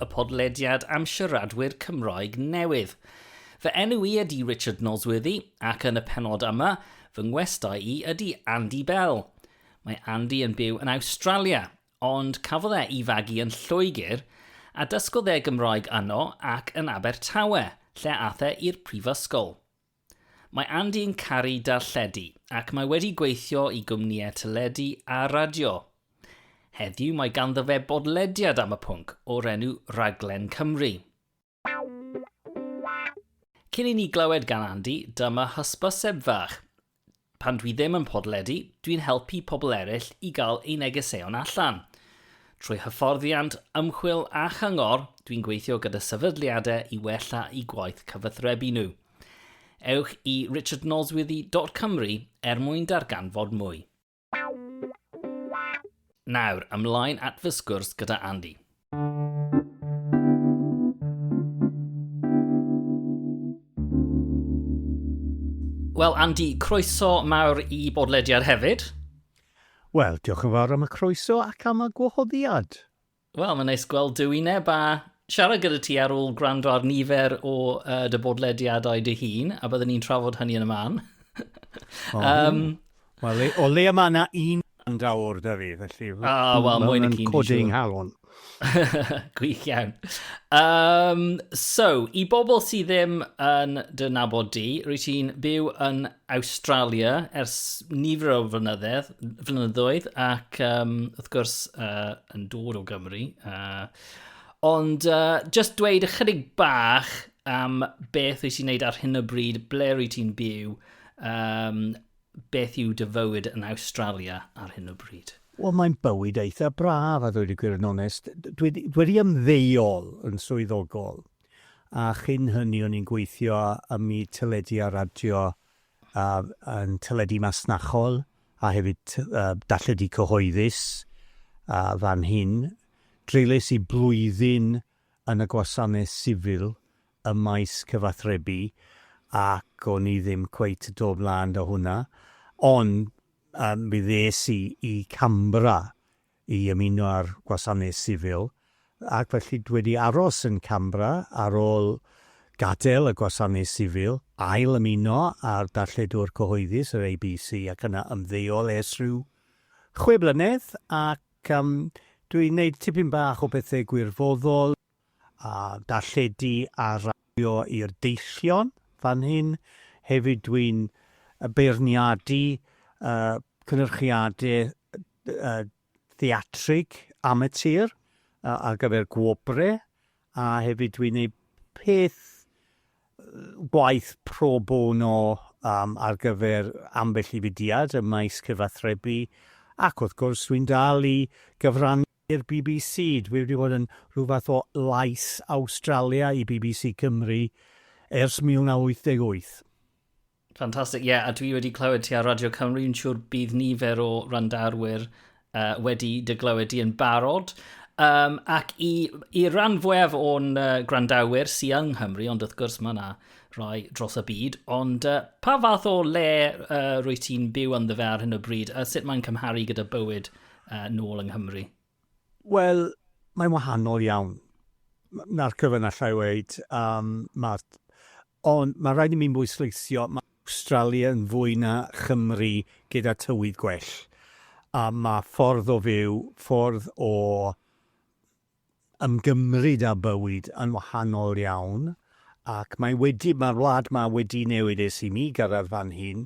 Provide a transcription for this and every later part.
y podlediad am siaradwyr Cymroeg newydd. Fy enw i ydy Richard Nosworthy ac yn y penod yma, fy ngwestau i ydy Andy Bell. Mae Andy yn byw yn Awstralia, ond cafodd e i fagu yn Lloegr a dysgodd e Gymraeg yno ac yn Abertawe, lle ath e i'r prifysgol. Mae Andy yn caru darlledu ac mae wedi gweithio i gwmnïau teledu a radio. Heddiw mae ganddo fe bodlediad am y pwnc o'r enw Rhaglen Cymru. Cyn i ni glywed gan Andy, dyma hysbyseb fach. Pan dwi ddim yn podledu, dwi'n helpu pobl eraill i gael eu negeseuon allan. Trwy hyfforddiant, ymchwil a chyngor, dwi'n gweithio gyda sefydliadau i wella'u gwaith cyfathrebu nhw. Ewch i richardnosworthy.cymru er mwyn darganfod mwy. Nawr, ymlaen at fy sgwrs gyda Andy. Wel, Andy, croeso mawr i bodlediad hefyd. Wel, diolch yn fawr am y croeso ac am y gwahoddiad. Wel, mae'n neis gweld dwi neb a siarad gyda ti ar ôl gwrando ar nifer o uh, dy bodlediadau dy hun, a byddwn ni'n trafod hynny yn y man. um, Wel, o leia mae yna un band awr da fi, felly... O, oh, wel, mwyn y cyn codi yng nghalon. Gwych iawn. Um, so, i bobl sydd ddim yn dy nabod di, rwy ti'n byw yn Australia ers nifer o flynyddedd, flynyddoedd ac um, wrth gwrs uh, yn dod o Gymru. Uh, ond uh, just dweud ychydig bach am beth wyt ti'n neud ar hyn o bryd, ble rwy ti'n byw, um, Beth yw dy fywyd yn Awstralia ar hyn o bryd? Wel mae'n bywyd eitha braf a ddweud y gwir yn onest. Dwi dwi wedi ymddeol yn swyddogol a chyn hynny o'n i'n gweithio ym myd teledu a radio a yn teledu masnachol a hefyd t- yy darlledu cyhoeddus a fan hyn. Dreulies i blwyddyn yn y gwasanaeth sifil ym maes cyfathrebu ac o'n i ddim cweit do blaen da hwnna ond yym mi ddes i i Canberra i ymuno â'r gwasanaeth sifil ac felly dwi wedi aros yn Canberra ar ôl gadael y gwasanaeth sifil, ail ymuno â'r darlledwr cyhoeddus yr ABC ac yna ymddeol ers rhyw chwe blynedd ac yym dwi'n neud tipyn bach o bethe gwirfoddol. a darlledu a raddio i'r deillion fan hyn. Hefyd dwi'n beirniadu cynyrchiadau theatrig amatur ar gyfer gwobrau a hefyd dwi'n gwneud peth gwaith pro bono ar gyfer ambell i fudiad ym maes cyfathrebu ac wrth gwrs dwi'n dal i gyfrannu I'r bbc, dwi wedi bod yn rhyw fath o lais Awstralia i bbc Cymru ers 1988. Fantastic, ie, a dwi wedi clywed ti ar Radio Cymru, yn siŵr bydd nifer o randarwyr uh, wedi dy glywed di yn barod. Um, ac i, i ran fwyaf o'n uh, grandawyr sy'n yng Nghymru, ond wrth gwrs mae yna rhoi dros y byd, ond uh, pa fath o le uh, rwy ti'n byw ynddo fe ar hyn o bryd, a sut mae'n cymharu gyda bywyd uh, nôl yng Nghymru? Wel, mae'n wahanol iawn. Na'r cyfan allai weid, um, mae'r... Ond mae rhaid i mi'n bwysleisio, mae Australia yn fwy na Chymru gyda tywydd gwell. A mae ffordd o fyw, ffordd o ymgymryd â bywyd yn wahanol iawn ac mae wedi, mae'r wlad ma wedi newid ers i mi gyrraedd fan hyn.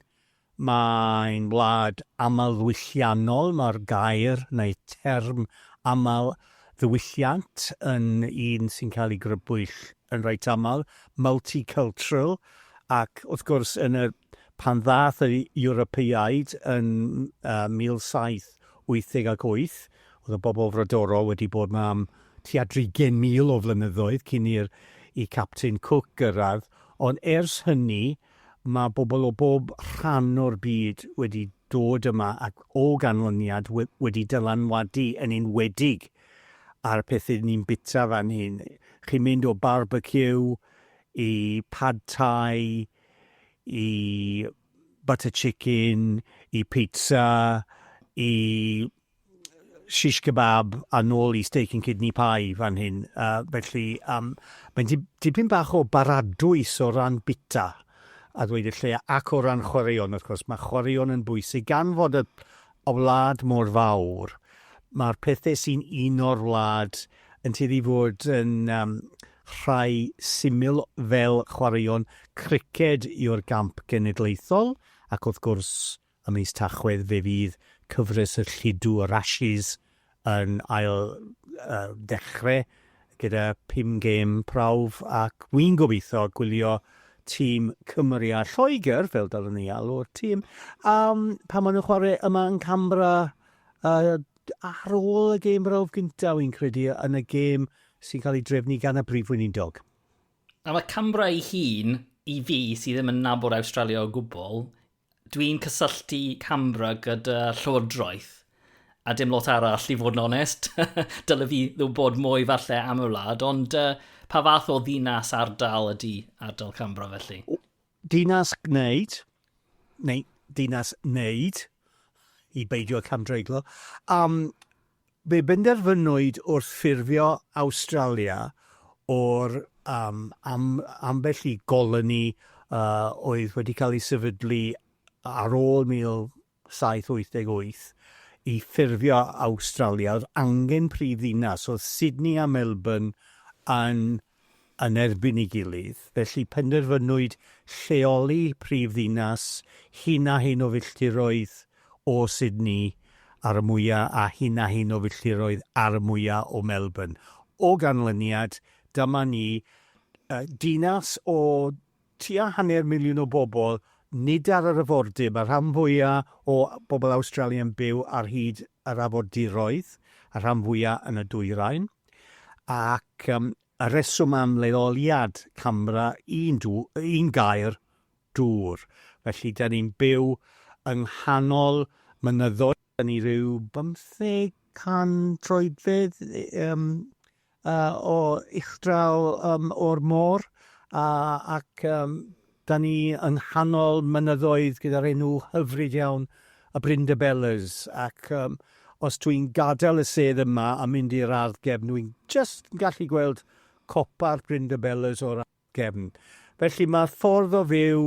Mae'n wlad amlddiwylliannol, mae'r gair neu term aml ddiwylliant yn un sy'n cael ei grybwyll yn reit aml, multicultural, ac wrth gwrs yn yr pan ddaeth yr Ewropeaid yn uh, 1788 Oedd y bobl frodorol wedi bod 'ma am tua dri gen mil o flynyddoedd cyn i'r i Captain Cook gyrraedd, ond ers hynny mae bobl o bob rhan o'r byd wedi dod yma ac o ganlyniad wedi dylanwadu yn enwedig ar y pethau ni'n bwyta fan hyn. Chi'n mynd o barbeciw i pad thai i butter chicken i pizza i shish kebab a nôl i steak and kidney pie fan hyn. Uh, felly, um, mae'n dipyn bach o baradwys o ran bita a ddweud y lle ac o ran chwaraeon, wrth gwrs. Mae chwaraeon yn bwysig gan fod y, y wlad mor fawr. Mae'r pethau sy'n un o'r wlad yn tueddu fod yn um, rhai syml fel chwaraeon criced yw'r gamp genedlaethol ac wrth gwrs Ym mis Tachwedd fe fydd cyfres y lludw yr Ashes yn ail ddechre gyda phum gêm prawf ac wi'n gobeithio gwylio tîm Cymru a Lloegr, fel dylwn i alw'r tîm, yym pan maen nhw'n chwarae yma yn Canberra yy ar ôl y gêm brawf gyntaf wi'n credu yn y gêm sy'n cael ei drefnu gan y Brif Weinidog. A mae Canberra ei hun, i fi, sydd ddim yn nabod Awstralia o gwbl, Dwi'n cysylltu CAMRA gyda Llywodraeth a dim lot arall i fod yn onest. Dyle fi bod mwy falle am y wlad, ond uh, pa fath o ddinas ardal ydy ardal Cambra felly? Dinas gwneud, neu dinas wneud, i beidio camdreiglo. Um, Fe benderfynwyd wrth ffurfio Awstralia o'r am am ambell i goloni oedd wedi cael ei sefydlu ar ôl 1788 i ffurfio Awstralia, oedd angen prifddinas, oedd Sydney a Melbourne yn yn erbyn ei gilydd, felly penderfynwyd lleoli prif ddinas hyn a hyn o filltiroedd o Sydney ar y mwya a hyn a hyn o filltiroedd ar y mwya o Melbourne. O ganlyniad, dyma ni, dinas o Tua hanner miliwn o bobl, nid ar yr afordir, mae'r rhan fwyaf o bobl Awstralia yn byw ar hyd yr afordiroedd, y rhan fwyaf yn y dwyrain, ac y rheswm am leoliad camera un un gair, dŵr. Felly, dan ni'n byw yng nghanol mynyddoedd, dan ni ryw bymtheg can troedfedd, o uchdraw o'r môr ac da ni yng nghanol mynyddoedd gyda'r enw hyfryd iawn y Brindabellas ac os dwi'n gadael y sedd yma a mynd i'r ardd gefn dwi'n jyst yn gallu gweld copa'r Brindabellas o'r ardd. gefn. Felly mae'r ffordd o fyw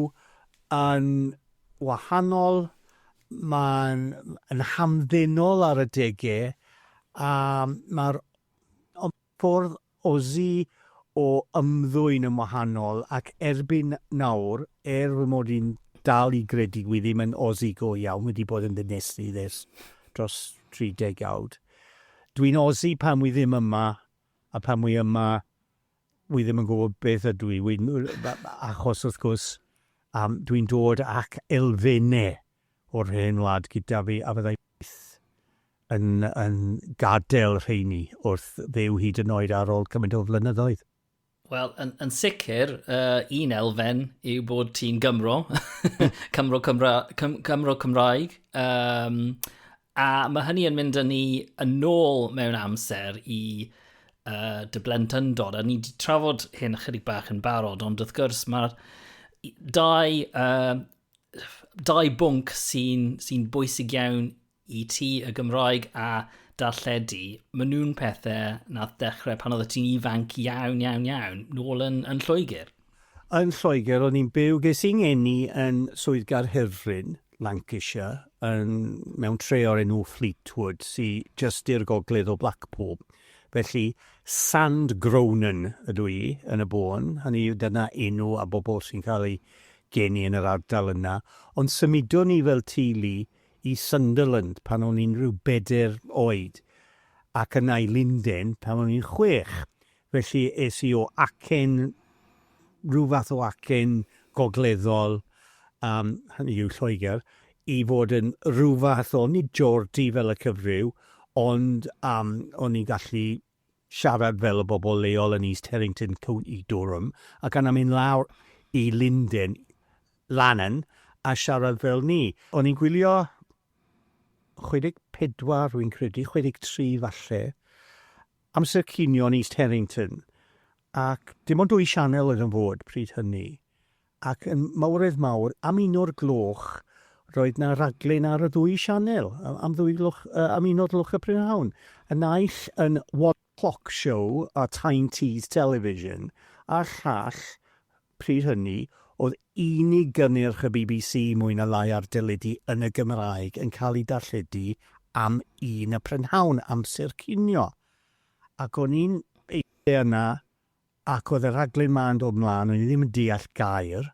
yn wahanol, mae'n yn hamddenol ar adegau, a mae'r ffordd Aussie o ymddwyn yn wahanol, ac erbyn nawr, er fy mod i'n dal i gredu wi ddim yn Aussie go iawn, wedi bod yn ddinistrydd ers dros 30 awd, dwi'n Aussie pan wi ddim yma, a pan wi yma, wi ddim yn gwybod beth ydw i, wi, achos wrth gwrs, um, dwi'n dod ac elfennau o'r hen wlad gyda fi, a fyddai byth yn, yn gadael rheini wrth fyw hyd yn oed ar ôl cymaint o flynyddoedd. Wel, yn, yn sicr, uh, un elfen yw bod ti'n Gymro, Cymro, Cymra, Cym, Cymro Cymraeg, um, A mae hynny yn mynd â ni yn ôl mewn amser i uh, dy blentyndod, a ni wedi trafod hyn ychydig bach yn barod, ond wrth gwrs mae'r dau, uh, dau bwnc sy'n sy bwysig iawn i ti y Gymraeg a darlledu, maen nhw'n pethau nath ddechrau pan oedd ti'n ifanc iawn, iawn, iawn, nôl yn, yn Lloegr. Yn Lloegr o'n i'n byw, ges i'n ngeni yn Swydd Gaerhirfryn, Lancashire, yn, mewn tre o'r enw Fleetwood, sy just i'r gogledd o Blackpool. Felly, Sand Gronan ydw i yn y bôn, hynny yw dyna enw a bobl sy'n cael eu geni yn yr ardal yna. Ond symudon ni fel teulu i Sunderland pan o'n i'n rhyw bedair oed, ac yna i Linden pan o'n i'n chwech. Felly es i o acen, rhyw fath o acen gogleddol, yym, hynny yw Lloegr, i fod yn rhyw fath o, nid Geordie fel y cyfryw, ond yym o'n i'n gallu siarad fel y bobl leol yn East Herrington, County Durham, ac yna mynd lawr i Linden, Lannan, a siarad fel 'ny. O'n i'n gwylio 64, rwy'n credu, 63 falle, Amser cinio yn East Herrington, ac dim ond dwy sianel oedd yn fod pryd hynny, ac yn mawredd mawr, am un o'r gloch, roedd 'na raglen ar y ddwy sianel, am ddwy gloch, am un o'r gloch y prynhawn, y naill yn One Clock Show ar Tyne Tees Television, a'r llall Pryd hynny, oedd unig gynnyrch y bbc mwy na lai ar deledu yn y Gymraeg yn cael ei darlledu am un y prynhawn, amser cinio. Ac o'n i'n eistedd yna, ac oedd y rhaglen 'ma yn dod 'mlaen, o'n i ddim yn deall gair,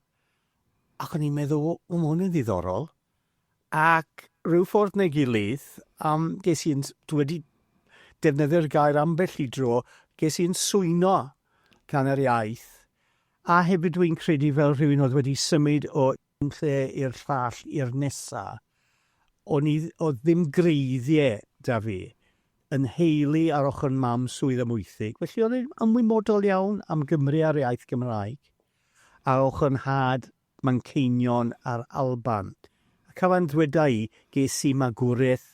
ac o'n i'n meddwl, 'o, ma' hwn yn ddiddorol. Ac rhyw ffordd neu gilydd, yym, ges i'n s- dwi wedi defnyddio'r gair ambell i dro, ges i'n swyno gan yr iaith, a hefyd dwi'n credu fel rhywun oedd wedi symud o un lle i'r llall i'r nesa, o'n i, oedd ddim gwreiddiau 'da fi. Yn nheulu ar ochr mam swydd Amwythig, felly o'n i'n ymwybodol iawn am Gymru a'r iaith Gymraeg, ar ochr 'nhad Manceinion a'r Alban. A cafai'n ddweda i, ges i magwraeth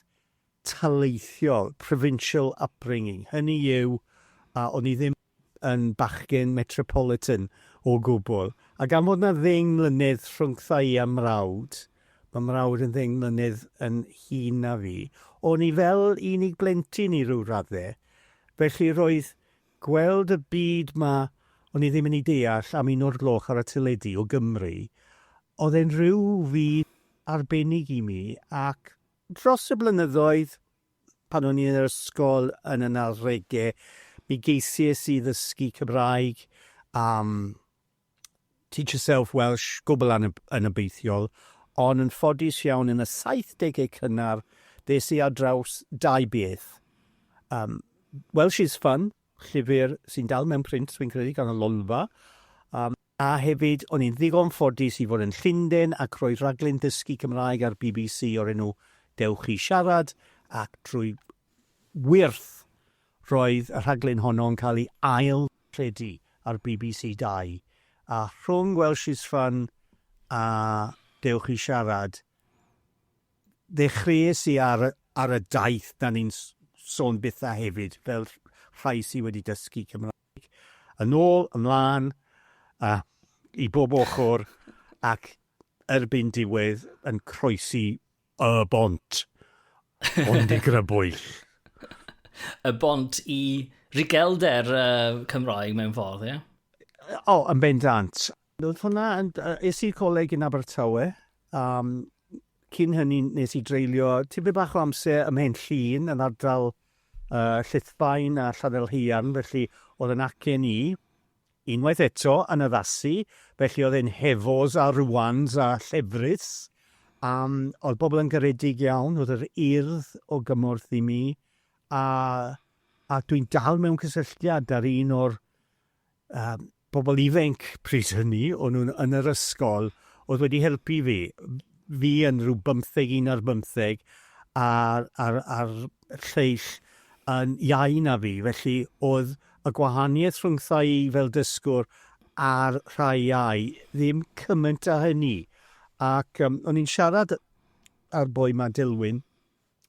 taleithiol, provincial upbringing, hynny yw, a o'n i ddim yn bachgen metropolitan o gwbl. A gan fod 'na ddeng mlynedd rhwngtha i a mrawd, ma' mrawd yn ddeng mlynedd yn hŷn na fi, o'n i fel unig blentyn i ryw radde, felly roedd Gweld y byd 'ma o'n i ddim yn ei deall am un o'r gloch ar y teledu o Gymru, oedd e'n rhyw fyd arbennig i mi ac dros y blynyddoedd, pan o'n i yn yr ysgol yn y nawdege, mi geisies i ddysgu Cymraeg am Teach Yourself Welsh, gwbl anobeithiol, ond yn ffodus iawn yn y saithdegau cynnar ddes i ar draws dau beth. Um, Welsh is Fun, llyfr sy'n dal mewn print, fi'n credu, gan y Lolfa, um, a hefyd o'n i'n ddigon ffodus i fod yn Llundain ac roedd rhaglen ddysgu Cymraeg ar bbc o'r enw Dewch i Siarad, ac drwy Wyrth, roedd y rhaglen honno yn cael ei ail-rhedu ar bbc Dau, a rhwng Welsh is Fun a Dewch i Siarad, ddechreuais i ar y ar y daith 'na ni'n sôn byth a hefyd, fel rhai sy wedi dysgu Cymraeg, yn ôl, ymlaen, a i bob ochr, ac erbyn diwedd yn croesi Y bont. Ond i grybwyll. y bont i rigelder uh, Cymraeg mewn ffordd, ie? Yeah? O, oh, yn bendant. Oedd hwnna, es i'r coleg yn Abertawe, um, cyn hynny nes i dreulio tipyn bach o amser ym Mhen Llun yn ardal uh, Llithfaen a Llanelheuarn, felly oedd yn acen i, Unwaith eto yn addasu, felly oedd e'n Hefoes a Rwans a Llefrith, a oedd pobl yn garedig iawn, oedd yr Urdd o gymorth i mi, a a dwi'n dal mewn cysylltiad â'r un o'r um, pobl ifenc pryd hynny, o'n nhw'n yn yr ysgol, oedd wedi helpu fi, fi yn rhyw bymtheg, un ar bymtheg, a'r, ar, ar lleill yn iau na fi, felly oedd Y gwahaniaeth rhwngtha i fel dysgwr a'r rhai ai, ddim cymaint a hynny. Ac yym o'n i'n siarad â'r boi 'ma, Dilwyn,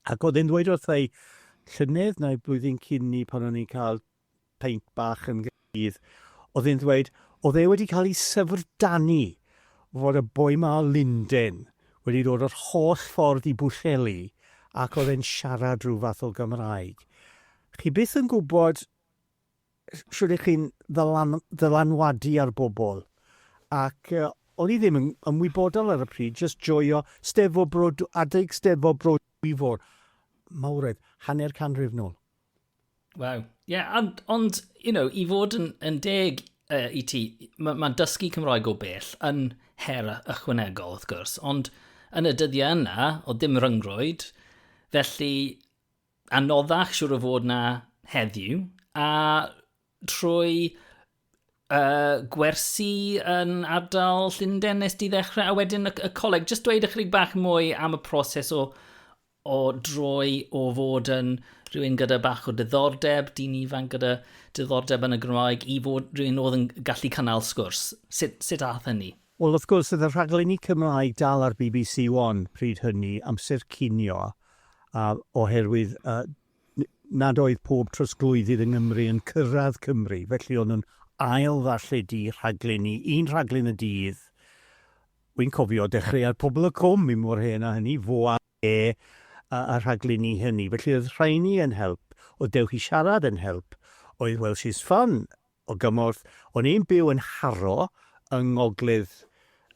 ac oedd e'n ddweud wrtha i, llynedd neu blwyddyn cyn 'ny pan o'n i'n cael peint bach yn Nghaerdydd, oedd e'n ddweud oedd e wedi cael ei syfrdanu fod y boi 'ma o Lunden wedi dod yr holl ffordd i Bwllheli ac oedd e'n siarad rhyw fath o Gymraeg. Chi byth yn gwybod shwt y'ch chi'n ddylanwadu ar bobl, ac o'n i ddim yn ymwybodol ar y pryd, jyst joio 'Steddfod Bro Dwy-, adeg 'Steddfod Bro Dwyfor, mawredd, hanner canrif nôl. Waw. Ie, yeah, ond, ond, you know, i fod yn, yn deg uh, i ti, mae ma dysgu Cymraeg o bell yn her ychwanegol, wrth gwrs, ond yn y dyddiau yna, o dim ryngrwyd, felly anoddach siwr o fod na heddiw, a trwy uh, gwersi yn ardal Llundain nes di ddechrau, a wedyn y, y coleg. Just dweud ychydig bach mwy am y proses o, o droi o fod yn rhywun gyda bach o diddordeb, dyn ifanc gyda diddordeb yn y Gymraeg, i fod rhywun oedd yn gallu cynnal sgwrs. Sut, sut ath hynny? Wel, wrth gwrs, oedd y rhaglenni Cymraeg dal ar bbc One pryd hynny, amser cinio, a oherwydd nad oedd pob trosglwyddydd yng Nghymru yn cyrraedd Cymru, felly o'n nhw'n ail-ddarlledu rhaglenni, un rhaglen y dydd. Wi'n cofio dechreuad Pobol y Cwm, mi mor hen a hynny, fo a fe, y rhaglenni hynny. Felly oedd rheiny yn help, oedd Dewch i Siarad yn help, oedd Welsh is Fun, O gymorth. O'n i'n byw yn Harrow yng ngogledd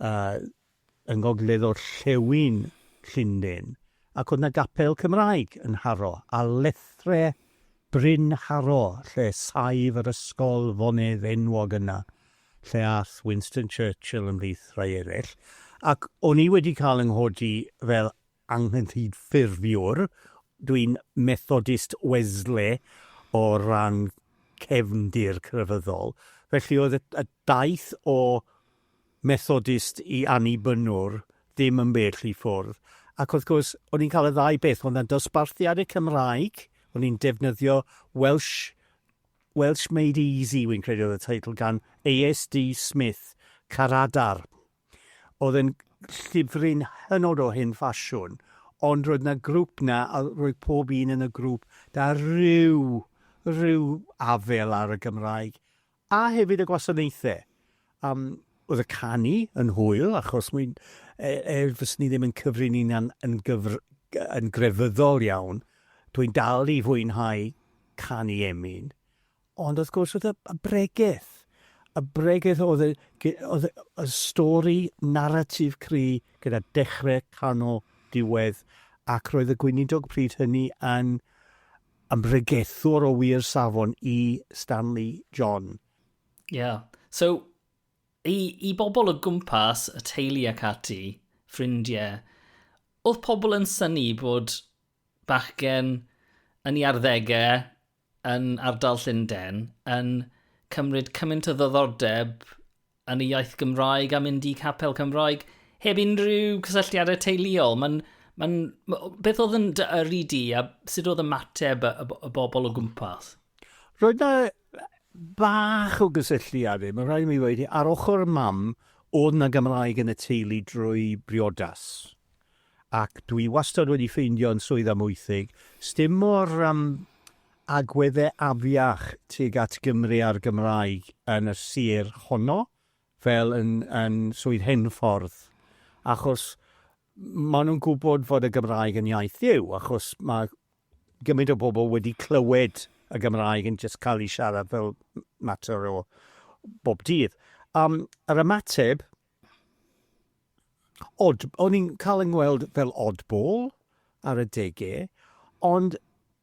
yy yng ngogledd-orllewin Llundain, ac o'dd 'na gapel Cymraeg yn Harrow, a llethr Bryn Harrow lle saif yr ysgol fonedd enwog yna, lle a'th Winston Churchill ymhlith rhai ereill, ac o'n i wedi ca'l 'y nghodi fel anghydffurfiwr, dwi'n Methodist Wesley o ran cefndir crefyddol, felly oedd y daith o Methodist i Annibynwr ddim yn bell i ffwrdd, ac wrth gwrs o'n i'n cael y ddau beth, oedd 'na dosbarthiad y Cymraeg, o'n i'n defnyddio Welsh, Welsh Made Easy wi'n credu oedd y teitl gan ASD Smith, Caradar. Oedd e'n llyfryn hynod o hen ffasiwn, ond roedd 'na grŵp 'na a roedd pob un yn y grŵp 'da ryw, ryw afel ar y Gymraeg, a hefyd y gwasanaethau. Yym, oedd y canu yn hwyl, achos mwy, e, er fyswn i ddim yn cyfri'n hunan yn gyfr- yn grefyddol iawn, dwi'n dal i fwynhau canu emyn, Ond wrth gwrs oedd y bregeth, y bregeth oedd y, oedd y stori naratif cry gyda dechrau, canol, diwedd, ac roedd y gweinidog pryd hynny yn ymregethwr o wir safon i Stanley John. Ie. Yeah. So, i, i bobl o gwmpas, y teulu ac ati, ffrindiau, oedd pobl yn syni bod bachgen yn ei arddegau yn ardal Llundain yn cymryd cymaint o ddoddordeb yn y iaith Gymraeg a mynd i capel Cymraeg heb unrhyw cysylltiadau teuluol. Mae'n Mae'n... Beth oedd yn dy yrru di a sut oedd ymateb y, y, y bobl o gwmpas? Roedd yna bach o gysylltiad i, mae'n rhaid i mi ddweud, ar ochr mam, oedd yna Gymraeg yn y teulu drwy briodas. Ac dwi wastad wedi ffeindio yn Swydd Amwythig, sdim mor yym agwedde afiach tuag at Gymru a'r Gymraeg yn y sir honno fel yn yn Swydd Henffordd, achos ma' nhw'n gwbod fod y Gymraeg yn iaith Dduw, achos ma' gymaint o bobl wedi clywed y Gymraeg yn jyst cael ei siarad fel mater o bob dydd. Yym yr ymateb odd, o'n i'n cael yng ngweld fel oddball ar y dege, ond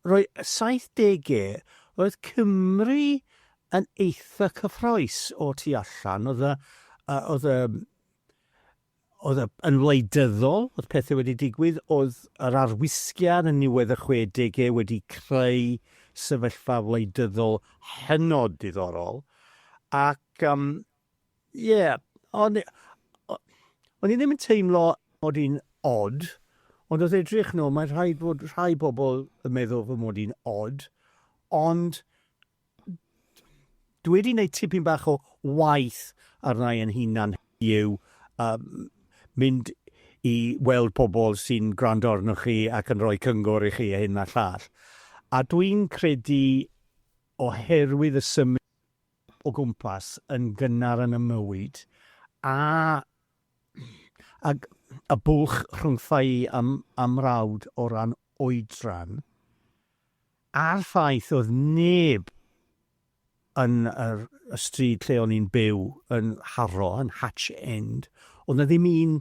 roi 70e, roedd Cymru yn eitha cyffroes o tu allan, oedd y, oedd y, oedd y, yn wleidyddol, oedd pethau wedi digwydd, oedd yr arwisgiad yn niwedd y 60au wedi creu sefyllfa wleidyddol hynod diddorol, ac um, Ie, o'n i... o- o'n i ddim yn teimlo mod i'n od, ond wrth edrych nôl mae rhaid bod rhai pobl yn meddwl fy mod i'n od, ond dwi wedi gwneud tipyn bach o waith arna i yn hunan heddiw, yym, mynd i weld pobl sy'n gwrando arnoch chi ac yn rhoi cyngor i chi a hyn a'r llall. A dwi'n credu oherwydd y symud o gwmpas yn gynnar yn y mywyd, a ag y bwlch rhwngtha'i ym, a mrawd o ran oedran, a'r ffaith oedd neb yn yr, y stryd lle o'n i'n byw yn Harrow, yn Hatch End, oedd 'na ddim un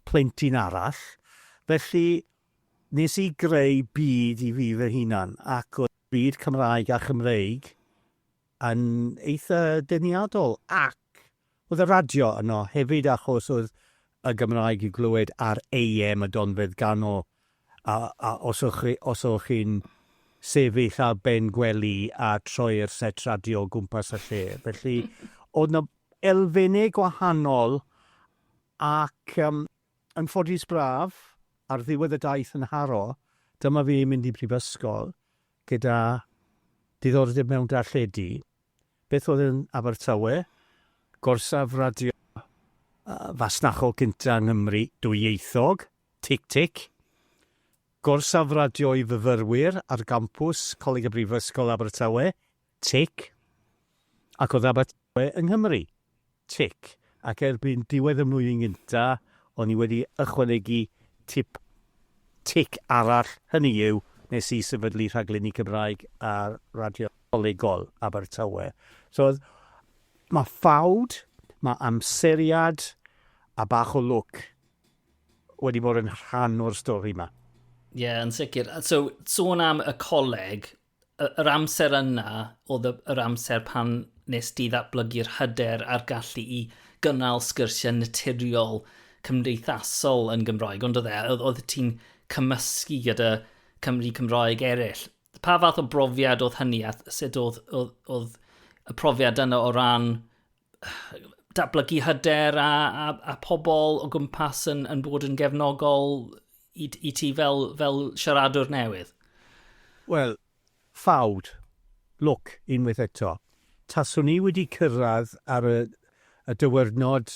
plentyn arall, felly nes i greu byd i fi fy hunan, ac oedd byd Cymraeg a Chymreig yn eitha deniadol ac oedd y radio yno hefyd achos oedd y Gymraeg i glywed ar AM y Donfedd Ganol a, a os o'ch chi, os o'ch chi'n sefyll ar ben gwely a troi'r set radio o gwmpas y lle. Felly oedd yna elfennau gwahanol ac um, Yn ffodus braf, ar ddiwedd y daith yn Harrow, dyma fi yn mynd i brifysgol gyda diddordeb mewn darlledu. Beth oedd yn Abertawe? Gorsaf radio fasnachol gynta' yng Nghymru, dwyieithog, tic tic. Gorsaf radio i fyfyrwyr ar gampws Coleg y Brifysgol Abertawe, Tic. Ac oedd Abertawe yng Nghymru? Tic. Ac erbyn diwedd y mlwyddyn gyntaf, o'n i wedi ychwanegu tip tic arall, hynny yw, nes i sefydlu rhaglenni Cymraeg ar radio colegol Abertawe. So, mae ffawd, mae amseriad a bach o lwc wedi bod yn rhan o'r stori 'ma. Ie, yn sicr. So, sôn am y coleg, yr amser yna oedd yr amser pan nes di ddatblygu'r hyder a'r gallu i gynnal sgyrsiau naturiol cymdeithasol yn Gymraeg, ond oedd e, oedd ti'n cymysgu gyda Cymru Cymraeg eraill. Pa fath o brofiad oedd hynny a sut oedd, oedd, oedd y profiad yna o ran datblygu hyder a, a, a pobl o gwmpas yn, yn bod yn gefnogol i, i ti fel, fel siaradwr newydd? Wel, ffawd, lwc, unwaith eto. Taswn i wedi cyrraedd ar y, y dywyrnod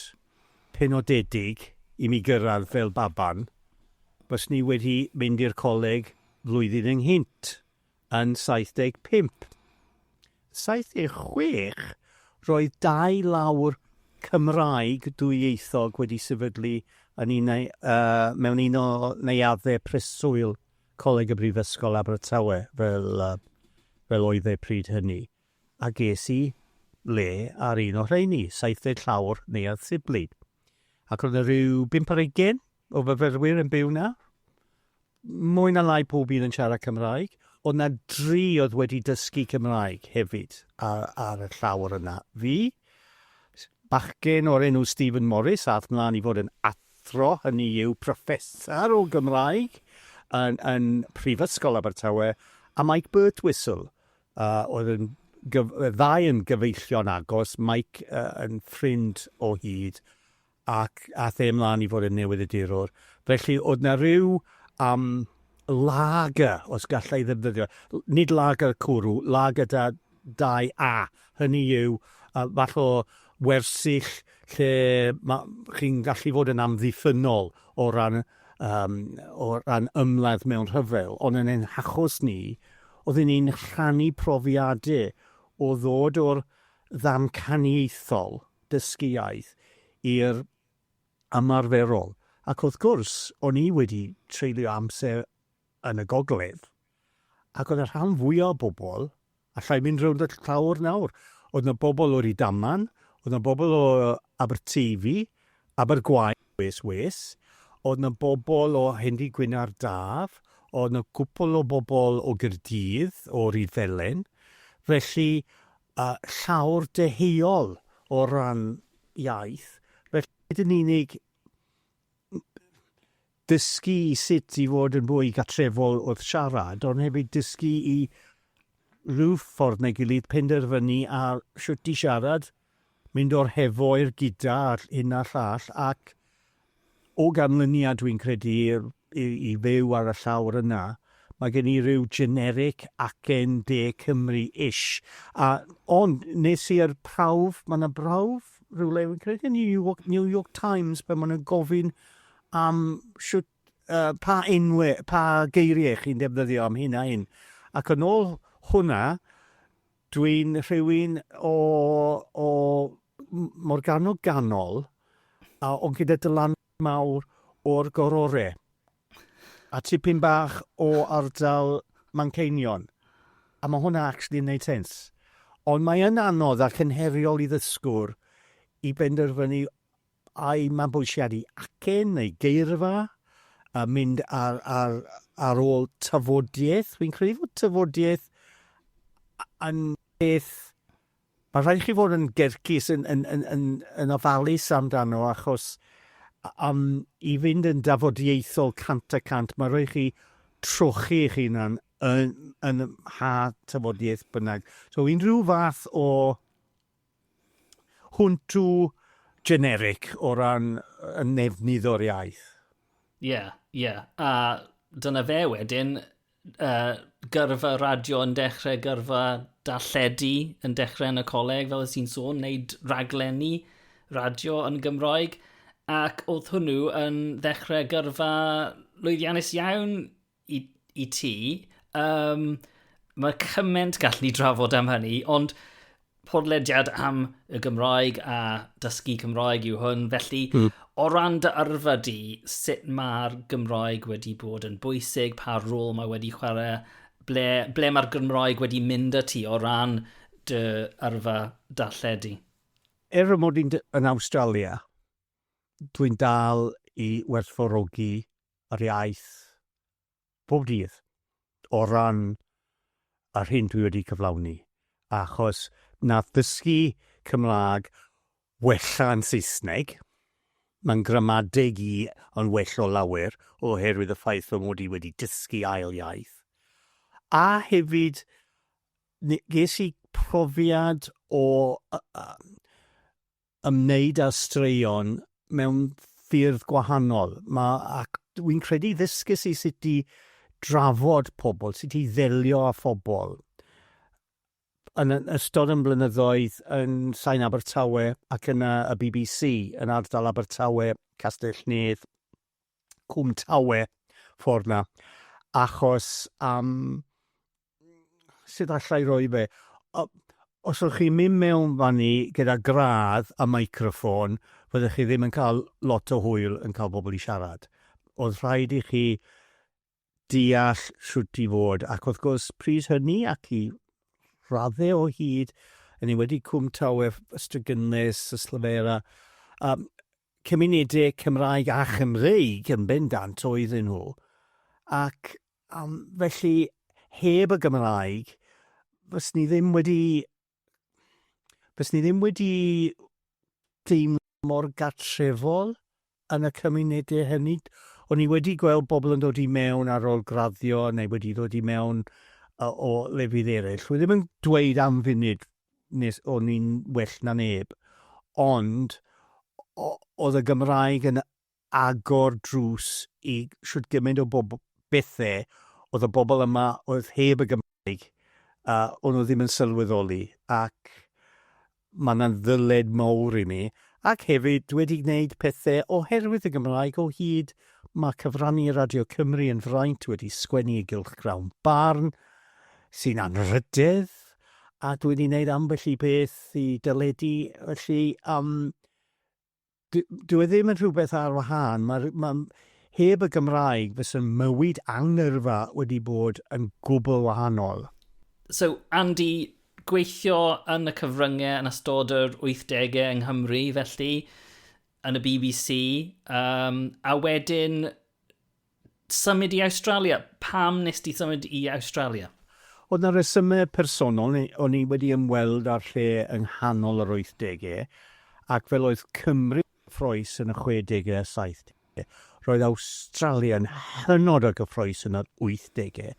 penodedig i mi gyrraedd fel baban, byswn i wedi mynd i'r coleg flwyddyn ynghynt. yn 75. Yn 76, roedd dau lawr Cymraeg dwyieithog wedi sefydlu yn un neu, uh, mewn un o neuaddau preswyl Coleg y Brifysgol Abertawe, fel, uh, fel oedd e pryd hynny. A ges i le ar un o rheini, 70 llawr neuadd Sibley. Ac roedd yna rhyw bimp ar ugen o fyfyrwyr yn byw 'na. Mwy na lai pob un yn siarad Cymraeg. Oedd 'na dri oedd wedi dysgu Cymraeg hefyd ar, ar y llawr yna. Fi, bachgen o'r enw Stephen Morris, ath mlaen i fod yn athro, hynny yw proffesar o Gymraeg yn, yn Prifysgol Abertawe, a Mike Birtwistle, uh, oedd yn gyf, ddau yn gyfeillion agos, Mike uh, yn ffrind o hyd, ac aeth e ymlaen i fod yn newyddiadurwr. Felly, oedd 'na ryw yym lager, os galla i ddefnyddio, nid lager cwrw, lager da, dau A, hynny yw, yy, fath o wersyll lle ma', chi'n gallu fod yn amddiffynnol o ran yym, o ran ymladd mewn rhyfel, ond yn ein hachos ni, oedden ni'n rhannu profiadau o ddod o'r ddamcaniaethol, dysgu iaith i'r ymarferol, ac wrth gwrs, o'n i wedi treulio amser yn y gogledd, ac oedd y rhan fwya' o bobl, alla i fynd rownd y llawr nawr, oedd 'na bobl o Rydaman, oedd 'na bobl o Aberteifi, Abergwaun, wes wes, oedd 'na bobl o Hendy Gwynardd Daf, oedd 'na gwpwl o bobl o Gaerdydd, o Ryfelen, felly a llawr deheuol o ran iaith, felly nid yn unig dysgu i sut i fod yn fwy gartrefol wrth siarad, ond hefyd dysgu i rhyw ffordd neu gilydd penderfynu ar shwt i siarad, mynd o'r hefo i'r gyda a'r hyn a'r llall, ac o ganlyniad dwi'n credu i i fyw ar y llawr yna, mae gen i ryw generic acen de Cymru ish a ond nes i yr prawf ma' na brawf rywle fi'n credu yn New York New York Times pan ma' nhw'n gofyn am shwt yy pa enwe pa geirie chi'n defnyddio am hyn a hyn ac yn ôl hwnna dwi'n rhywun o o m- Morgannwg ganol a ond gyda Dylan mawr o'r Gorore a tipyn bach o ardal Manceinion a ma' hwnna actually yn neud sense. Ond mae yn anodd ac yn heriol i ddysgwr i benderfynu ai mabwysiadu acen neu geirfa a mynd ar ar ar ôl tafodiaith. Fi'n credu fod tafodiaith yn peth Mae'n rhaid i chi fod yn gercus, yn, yn, yn, yn, yn ofalus amdano, achos am i fynd yn dafodieithol cant y cant, mae'n rhaid i chi trochi eich hunan yn, yn ha tafodiaeth bynnag. So unrhyw fath o hwntw generic o ran y nefnydd o'r iaith. Ie, yeah, ie. Yeah. A dyna fe wedyn, uh, gyrfa radio yn dechrau, gyrfa darlledu yn dechrau yn y coleg, fel ydych chi'n sôn, wneud raglenni radio yn Gymroeg, ac oedd hwnnw yn ddechrau gyrfa lwyddiannus iawn i, i ti. Um, mae cymaint gallen ni drafod am hynny, ond Podlediad am y Gymraeg a dysgu Cymraeg yw hwn, felly mm. o ran dy yrfa di, sut mae'r Gymraeg wedi bod yn bwysig, pa rôl mae wedi chwarae, ble, ble mae'r Gymraeg wedi mynd y ti o ran dy yrfa darlledu? Er y mod i'n yn Awstralia, dwi'n dal i werthfawrogi yr iaith pob dydd o ran yr hyn dwi wedi cyflawni, achos nath ddysgu Cymraeg wella yn Saesneg, mae'n gramadeg i yn well o lawer oherwydd y ffaith fy mod i wedi dysgu ail iaith, a hefyd ges i profiad o ymwneud â straeon mewn ffyrdd gwahanol. Ma'... ac wi'n credu ddysges i sut i drafod pobl, sut i ddelio â phobl yn yn ystod 'yn blynyddoedd yn Sain Abertawe ac yn y y bbc yn ardal Abertawe, Castell-nedd, Cwm Tawe, ffordd 'na, achos am sut alla i roi fe? O, os ydych chi'n mynd mewn fan ni gyda gradd a microffon, fyddech chi ddim yn cael lot o hwyl yn cael pobl i siarad. Oedd rhaid i chi deall siwt i fod, ac wrth gwrs, pryd hynny ac i raddau o hyd, yn ei wedi Cwm Tawer, Ystrygynnus, Yslyfera, um, cymunedau Cymraeg a Chymreig yn bendant oedden nhw, ac Am, felly, heb y Gymraeg, fys ni ddim wedi... fys ni ddim wedi deimlo mor gartrefol yn y cymunedau hynny. O'n i wedi gweld bobl yn dod i mewn ar ôl graddio neu wedi dod i mewn o lefydd eraill. Dwi ddim yn dweud am funud nes o'n i'n well na neb, ond oedd y Gymraeg yn agor drws i shwt gymaint o bobl, bethe, oedd y bobl yma oedd heb y Gymraeg, a o'n nhw ddim yn sylweddoli, ac mae yna'n ddyled mawr i mi, ac hefyd dwi wedi gwneud pethe oherwydd y Gymraeg o hyd, mae cyfrannu i Radio Cymru yn fraint, wedi sgwennu i gylchgrawn barn, sy'n anrhydedd, a dwi wedi gwneud ambell i beth i deledu, felly, yym, Dyw e ddim yn rhywbeth ar wahân. Mae'r, mae, heb y Gymraeg fysa mywyd angerfa wedi bod yn gwbl wahanol. So, Andy, gweithio yn y cyfryngau yn ystod yr 80au yng Nghymru, felly, yn y bbc, um, a wedyn Symud i Awstralia? Pam wnest ti symud i Awstralia? Oedd 'na resymau personol, o'n i wedi ymweld â'r lle yng nghanol yr wythdegau, ac fel oedd Cymru yn gyffrous yn y chwedegau a saithdegau, roedd Awstralia yn hynod o gyffrous yn yr wythdegau,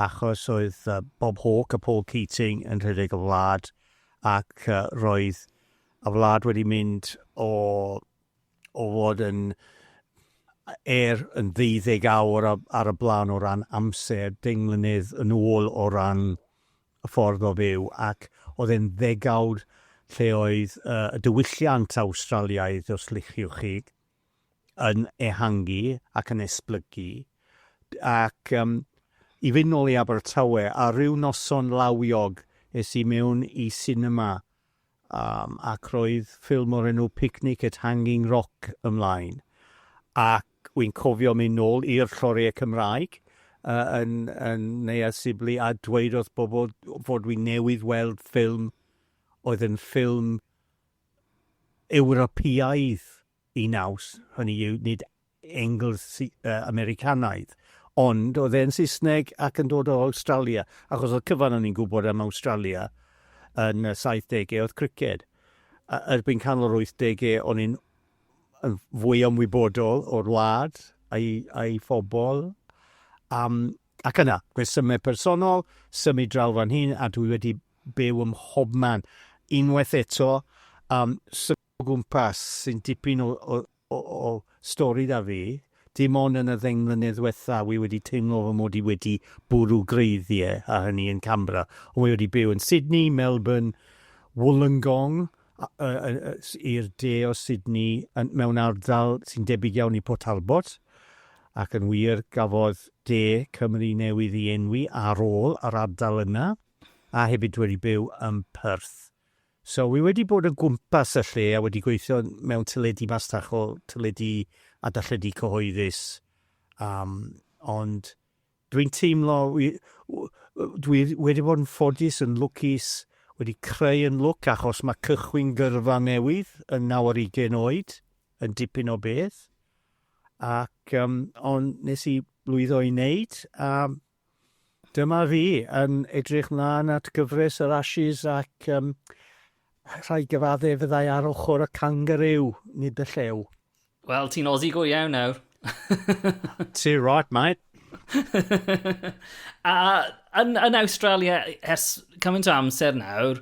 achos oedd Bob Hawke a Paul Keating yn rhedeg y wlad, ac roedd y wlad wedi mynd o o fod yn er yn ddeuddeg awr ar y blaen o ran amser, deng mlynedd yn ôl o ran y ffordd o fyw, ac oedd e'n ddegawd lle oedd y diwylliant Awstraliaidd, os liciwch chi, yn ehangu ac yn esblygu. Ac um, i fynd nôl i Abertawe, a rhyw noson lawiog es i mewn i sinema Yym, ac roedd ffilm o'r enw Picnic at Hanging Rock ymlaen, ac wi'n cofio mynd nôl i'r lloriau Cymraeg yy yn yn Neuadd Sibley a dweud wrth bobl fod fi newydd weld ffilm oedd yn ffilm Ewropeaidd. y naws, hynny yw, nid Engles Americanaidd, ond oedd e'n Saesneg ac yn dod o Awstralia, achos oedd cyfan o'n i'n gwybod am Awstralia yn y 70au oedd criced. Erbyn canol yr 80au o'n i'n yn fwy ymwybodol o'r wlad a'i, a'i phobl. Um, ac yna, gwesymau personol, symud draw fan hyn, a dwi wedi byw ym mhobman. Unwaith eto, um, o gwmpas sy'n dipyn o o o stori 'da fi. Dim ond yn y ddeng mlynedd ddwetha wi wedi teimlo fy mod i wedi bwrw gwreiddie, a hynny yn Canberra. Ond wi wedi byw yn Sydney, Melbourne, Wollongong, a yy yy yy s- i'r de o Sydney yn mewn ardal sy'n debyg iawn i Port Talbot, ac yn wir gafodd de Cymru newydd i enwi ar ôl yr ardal yna, a hefyd wedi byw yn Perth. So wi wedi bod o gwmpas y lle a wedi gweithio mewn teledu masnachol, teledu a darlledu cyhoeddus yym ond dwi'n teimlo wi w- w- dwi wedi bod yn ffodus, yn lwcus, wedi creu yn lwc achos ma' cychwyn gyrfa newydd yn naw ar ugain oed yn dipyn o beth ac yym ond nes i lwyddo i neud a Dyma fi yn edrych mlaen at gyfres yr Ashes ac um, rhaid gyfadde fyddai ar ochr y cangarew, nid y llew. Wel, ti'n Aussie go iawn nawr. Ti'n right, mate. a yn, yn Australia, ers cymaint o amser nawr,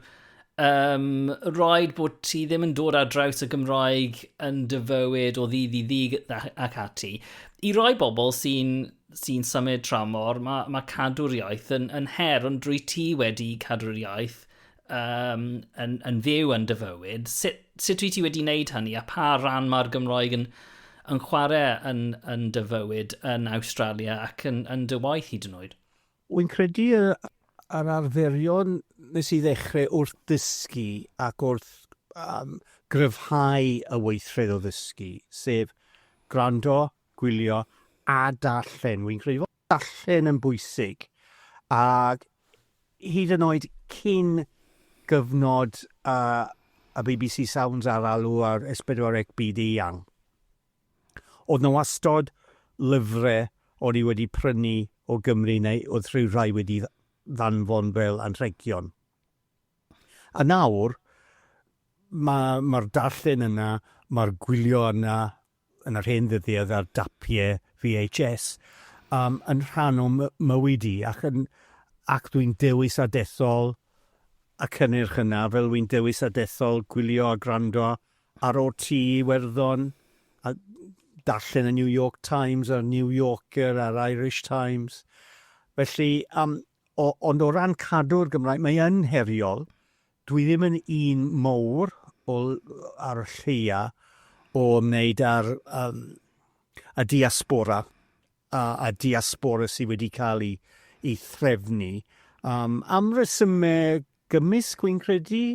um, roed bod ti ddim yn dod ar draws y Gymraeg yn dyfywyd o ddydd i ddydd ac ati. I roi bobl sy'n sy'n symud tramor, mae, mae cadw'r iaith yn, yn her, ond drwy ti wedi cadw'r iaith um, yn, yn fyw yn dyfywyd, sut, sut dwi ti wedi wneud hynny a pa ran mae'r Gymroeg yn, yn chwarae yn, yn dyfywyd yn Australia ac yn, yn dy waith hyd yn oed? Wy'n credu yr arferion nes i ddechrau wrth ddysgu ac wrth um, gryfhau y weithred o ddysgu, sef gwrando, gwylio a darllen. Wi'n credu fod darllen yn bwysig, ac hyd yn oed cyn gyfnod uh, y BBC Sounds ar alw ar S4C byd eang. Oedd na wastod lyfrau o'n i wedi prynu o Gymru neu oedd rhyw rhai wedi ddanfon fel anrhegion. A nawr, mae'r ma darllen yna, mae'r gwylio yna, yn yr hen ddyddiau ar dapiau VHS, um, yn rhan o mywyd i, ac, yn, ac dwi'n dewis a dethol y cynnyrch yna, fel wy'n dewis a dethol gwylio a gwrando ar OT Iwerddon, a darllen y New York Times a'r New Yorker a'r Irish Times. Felly, um, O, ond o ran cadw'r Gymraeg, mae yn heriol. Dwi ddim yn un mowr o, ar y lleia, o ymwneud â'r um, y diaspora a, a diaspora sydd wedi cael ei, ei threfnu um, am resymau Gymysg fi'n credu,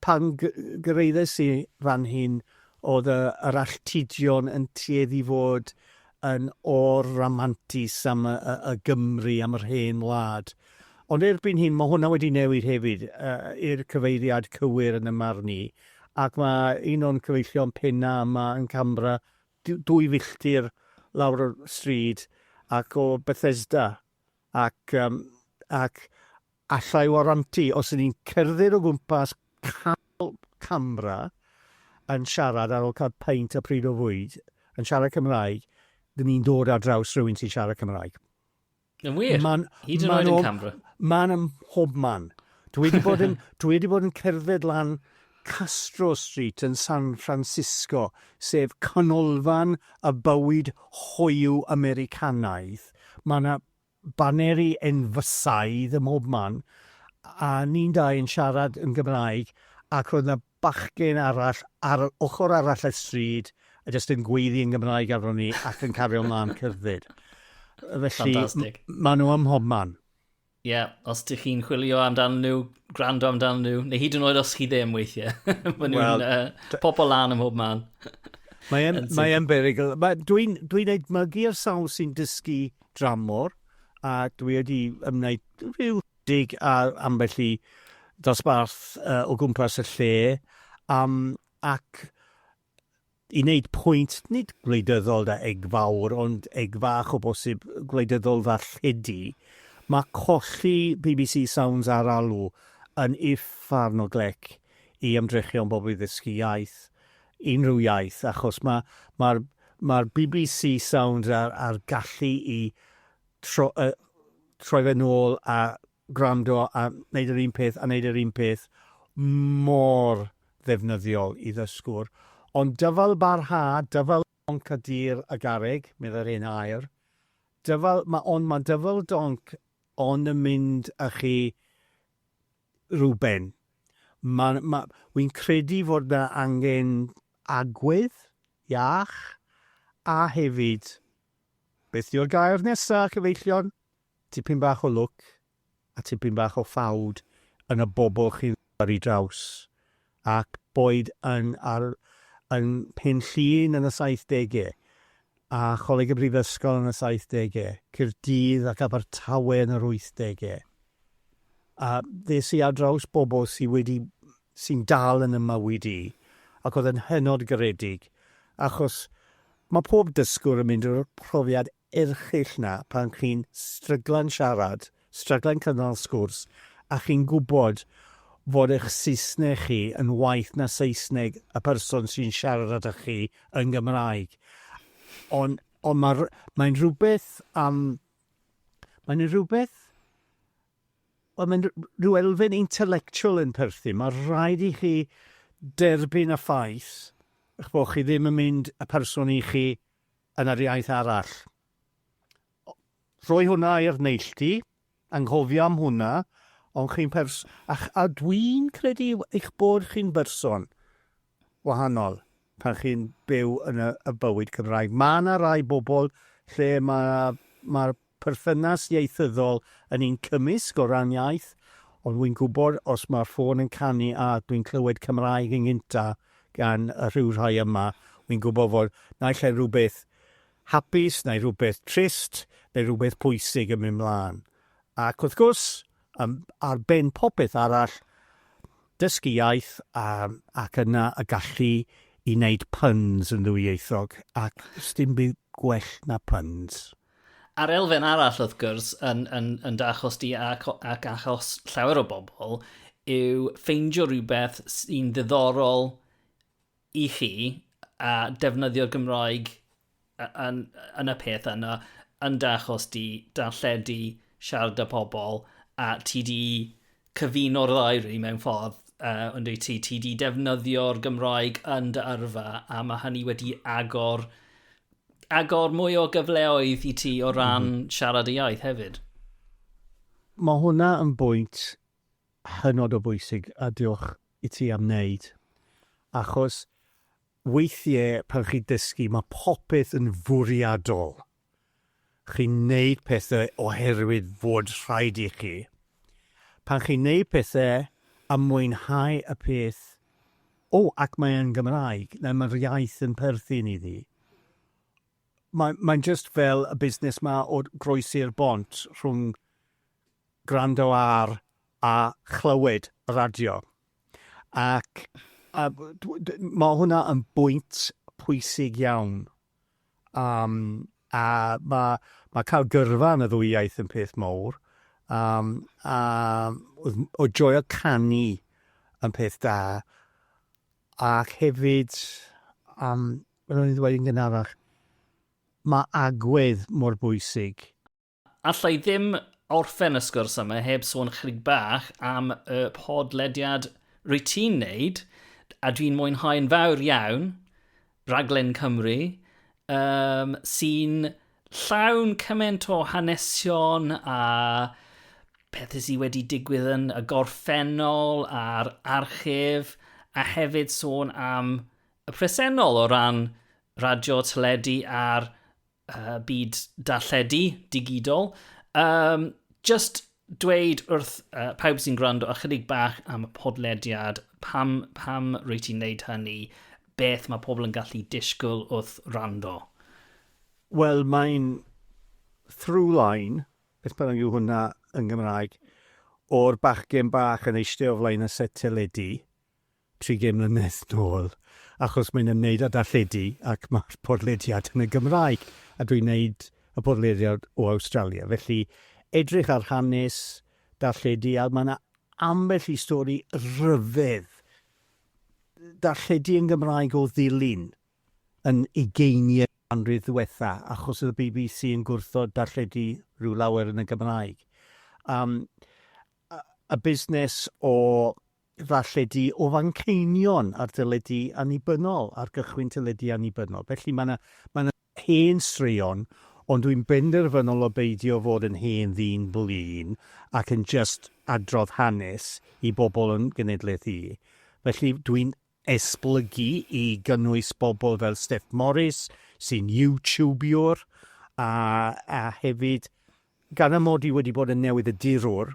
pan gyrraeddes i fan hyn oedd yr alltudion yn tueddu i fod yn or-ramantus am y Gymry, am yr hen wlad. Ond erbyn hyn mae hwnna wedi newid hefyd i'r cyfeiriad cywir yn 'y marn i, ac mae un o'n cyfeillion penna' yma yn Canberra, dwy filltir lawr y stryd ac o Bethesda, ac Alla i warantu, os ydyn ni'n cerdded o gwmpas canol camera yn siarad ar ôl cael peint a pryd o fwyd, yn siarad Cymraeg, dyn ni'n dod ar draws rhywun sy'n siarad Cymraeg. Yn wir? Ma'n, Hyd yn oed yn Canberra? Ma'n ym mhob man. Dwi wedi bod yn, dwi wedi bod yn cerdded lan Castro Street yn San Francisco, sef canolfan y bywyd hoyw Americanaidd. Mae yna baneri enfysaidd ym mhob man, a ni'n dau yn siarad yn Gymraeg, ac roedd 'na bachgen arall ar yr ochr arall y stryd yn jyst yn gweiddi yn Gymraeg arnon ni ac yn cario mlaen cerdded. Felly, Fantastic. maen nhw ym mhob man. Ie, yeah, os ydych chi'n chwilio amdan nhw, gwrando amdan nhw, neu hyd yn oed os chi ddim weithiau, maen nhw'n well, uh, pobl lan ym mhob man. Mae'n mae berygl. Mae, Dwi'n dwi edmygu'r sawl sy'n dysgu dramor, a dwi wedi ymwneud rhyw dig a ambell i ddosbarth uh, o gwmpas y lle, um, ac i wneud pwynt, nid gwleidyddol da eg fawr, ond eg fach o bosib gwleidyddol ddarlledu, mae colli BBC Sounds ar alw yn uffar o glec i ymdrechion bobl i ddysgu iaith. unrhyw iaith achos ma' ma'r ma'r bbc Sounds a'r a'r gallu i tro- yy troi fe nôl a gwrando a neud yr un peth a neud yr un peth mor ddefnyddiol i ddysgwr. Ond dyfalbarhad, dyfal donc a dir a garreg, meddai'r hen air. Dyfal, ma' ond ma' dyfal donc ond yn mynd â chi Reuben. Ma, ma, wi'n credu fod 'na angen agwedd iach, a hefyd, beth yw'r gair nesa, cyfeillion? Tipyn bach o lwc, a tipyn bach o ffawd yn y bobl chi'n ddaru draws. ac boed yn ar yn Mhenllyn yn y saithdegau, a Choleg y Brifysgol yn y saithdegau, Caerdydd ac Abertawe yn yr wythdegau. A ddes i ar draws bobl sy wedi, sy'n dal yn 'y mywyd i, ac oedd yn hynod garedig, achos mae pob dysgwr yn mynd drwy'r profiad erchyll 'na pan chi'n stryglan siarad, stryglan cynnal sgwrs a chi'n gwybod fod eich Saesneg chi yn waeth na Saesneg y person sy'n siarad â chi yn Gymraeg. Ond ond ma' r- mae'n rhywbeth am... mae'n yna rhywbeth... wel mae'n r- rhyw elfen intellectual yn perthyn. Mae rhaid i chi derbyn y ffaith eich bod chi ddim yn mynd y person i chi yn yr iaith arall. O, rhoi hwnna i'r neilltu, anghofio am hwnna, ond chi'n pers... A, a dwi'n credu eich bod chi'n berson wahanol pan chi'n byw yn y, y bywyd Cymraeg. Mae yna rai bobl lle mae'r mae perthynas ieithyddol yn un cymysg o ran iaith, ond wi'n gwybod os mae'r ffôn yn canu a dwi'n clywed Cymraeg yn gynta gan y rhyw rhai yma, wi'n gwybod fod naill ai rhywbeth hapus neu rhywbeth trist neu rhywbeth pwysig yn mynd mlaen. Ac wrth gwrs, yn ar ben popeth arall, dysgu iaith a, ac yna y gallu i wneud puns yn ddwyieithog, ac sdim byd gwell na puns. A'r elfen arall, wrth gwrs, yn, yn, yn dy achos di ac, ac achos llawer o bobl, yw ffeindio rhywbeth sy'n ddiddorol i chi a defnyddio'r Gymraeg yn, yn y peth yna, yn dy achos di, darlledu, siarad â pobl, a ti di cyfuno'r ddau rili mewn ffordd, uh, ond wyt ti, ti di defnyddio'r Gymraeg yn dy yrfa, a mae hynny wedi agor, agor mwy o gyfleoedd i ti o ran mm -hmm. siarad y iaith hefyd. Mae hwnna yn bwynt hynod o bwysig a diolch i ti am wneud. Achos weithiau pan chi dysgu mae popeth yn fwriadol. Chi'n wneud pethau oherwydd fod rhaid i chi. Pan chi'n wneud pethau a mwynhau y peth, o, ac mae yn Gymraeg, neu mae'r iaith yn perthyn iddi, mae, mae'n just fel y busnes ma o groesi'r bont rhwng gwrando ar a chlywed y radio. Ac a, mae hwnna yn bwynt pwysig iawn. Um, a mae ma cael gyrfa yn y ddwy iaith yn peth mowr. Um, a oedd joio canu yn peth da. Ac hefyd, um, fel o'n i'n dweud yn gynharach, mae agwedd mor bwysig. Alla i ddim orffen y sgwrs yma heb sôn chydig bach am y podlediad rwy ti'n neud, a dwi'n mwynhau'n fawr iawn, Raglen Cymru, um, sy'n llawn cymaint o hanesion a pethau sydd wedi digwydd yn y gorffennol a'r archif, a hefyd sôn am y presennol o ran radio, teledu a'r uh, byd darlledu digidol. Um, just dweud wrth uh, pawb sy'n gwrando ychydig bach am y podlediad, pam, pam rwy ti'n neud hynny, beth mae pobl yn gallu disgwyl wrth rando? Wel, mae'n through line, beth bynnag yw hwnna yn Gymraeg, o'r bachgen bach yn eistedd o flaen y set teledu, 30 mlynedd nôl, achos mae'n ymwneud â darlledu ac mae'r podlediad yn y Gymraeg, a dwi'n wneud y podlediad o Awstralia, felly edrych ar hanes darlledu, a mae 'na ambell i stori rhyfedd darlledu yn Gymraeg o ddilyn yn ugeiniau'r ganrif ddiwetha', achos oedd y bbc yn gwrthod darlledu rhyw lawer yn y Gymraeg. Yym, a busnes o ddarlledu o Fanceinion ar deledu annibynnol, ar gychwyn teledu annibynnol. Felly mae 'na mae 'na hen straeon, ond dwi'n benderfynol o beidio fod yn hen ddyn blin ac yn jyst adrodd hanes i bobl yn genedlaeth i. Felly dwi'n esblygu i gynnwys bobl fel Steff Morris, sy'n YouTubiwr, a a hefyd gan amod i wedi bod yn newydd-addurwr,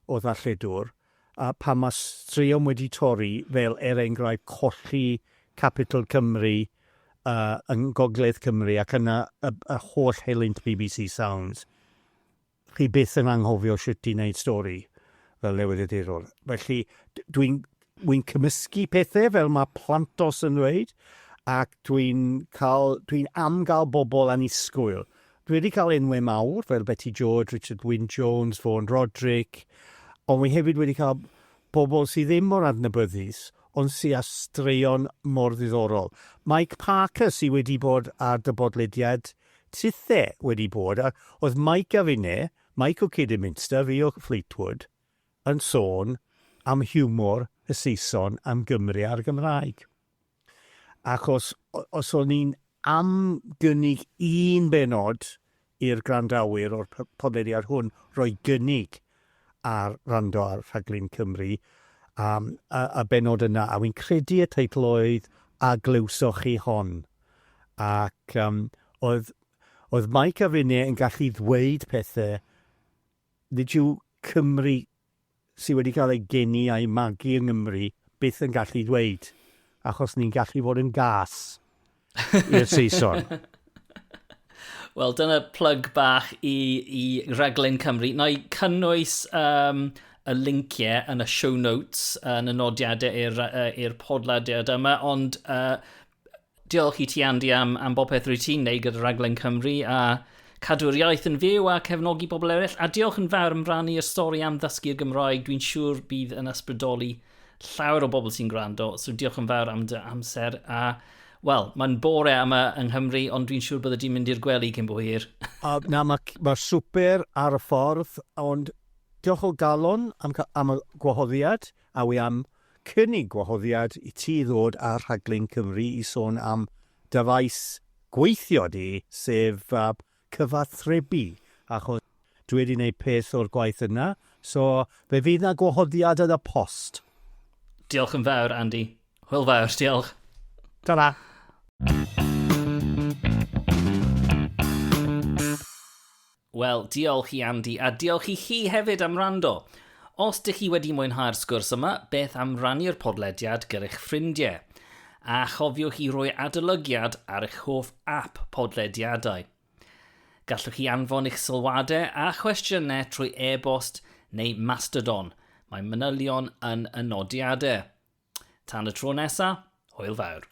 o ddarlledwr, a pam mae straeon wedi torri, fel er enghraifft colli Capital Cymru yng Ngogledd Cymru ac yna y holl helynt bbc Sounds, chi byth yn anghofio shwt i wneud stori fel newyddiadurwr. Felly, dwi'n Wi'n cymysgu pethe fel mae Plantos yn dweud ac dwi'n cael... dwi'n am gael bobl annisgwyl. Dwi wedi cael enwau mawr fel Beti George, Richard Wyn Jones, Fôn Rodric ond wi hefyd wedi cael bobl sydd ddim mor adnabyddus ond sy â straeon mor ddiddorol. Mike Parker sy wedi bod ar dy bodlediad tithe wedi bod a oedd Mike a finne, Mike o Kidderminster, fi o Fleetwood, yn sôn am hiwmor y Saeson am Gymru a'r Gymraeg. Ac os, os o'n i'n am gynnig un benod i'r gwrandawyr o'r podlediad hwn roi gynnig ar rando ar rhaglen Cymru, um, y, y benod yna, a wy'n credu y teitl oedd A Glywsoch Chi Hon? Ac um, oedd, oedd Mike a Rene yn gallu ddweud pethau Nid yw Cymry sydd wedi cael eu geni a'u magu yng Nghymru byth yn gallu dweud, achos ni'n gallu fod yn gas i'r Saeson. Wel, dyna plug bach i, i raglen Cymru. Na i cynnwys um, y linciau yn y show notes, yn y nodiadau i'r, uh, podlediad yma, ond uh, Diolch i ti Andy am, am bopeth rwyt ti'n neud gyda Rhaglen Cymru a cadw'r iaith yn fyw a cefnogi pobl eraill a diolch yn fawr am rannu yr stori am ddysgu'r Gymraeg dwi'n siŵr bydd yn ysbrydoli llawer o bobl sy'n gwrando so diolch yn fawr am dy amser a wel mae'n bore yma yng Nghymru ond dwi'n siŵr bydde di'n mynd i'r gwely cyn bo hir. A na mae ma swper ar y ffordd ond diolch o galon am am y gwahoddiad. A wi am cynnig gwahoddiad i ti ddod ar rhaglen Cymru i sôn am dy faes gweithio di, sef cyfathrebu, achos dwi wedi neud peth o'r gwaith yna, so fe fydd na gwahoddiad yn y post. Diolch yn fawr, Andy. Hwyl fawr, diolch. Ta-ra. Wel, diolch i Andy, a diolch i chi hefyd am wrando! Os dych chi wedi mwynhau'r sgwrs yma, beth am rannu'r podlediad gyr'ych ffrindie? A chofiwch i roi adolygiad ar eich hoff ap podlediadau. Gallwch chi anfon eich sylwadau a chwestiynau trwy e-bost neu Mastodon, mae manylion yn y nodiadau. Tan y tro nesa, hwyl fawr!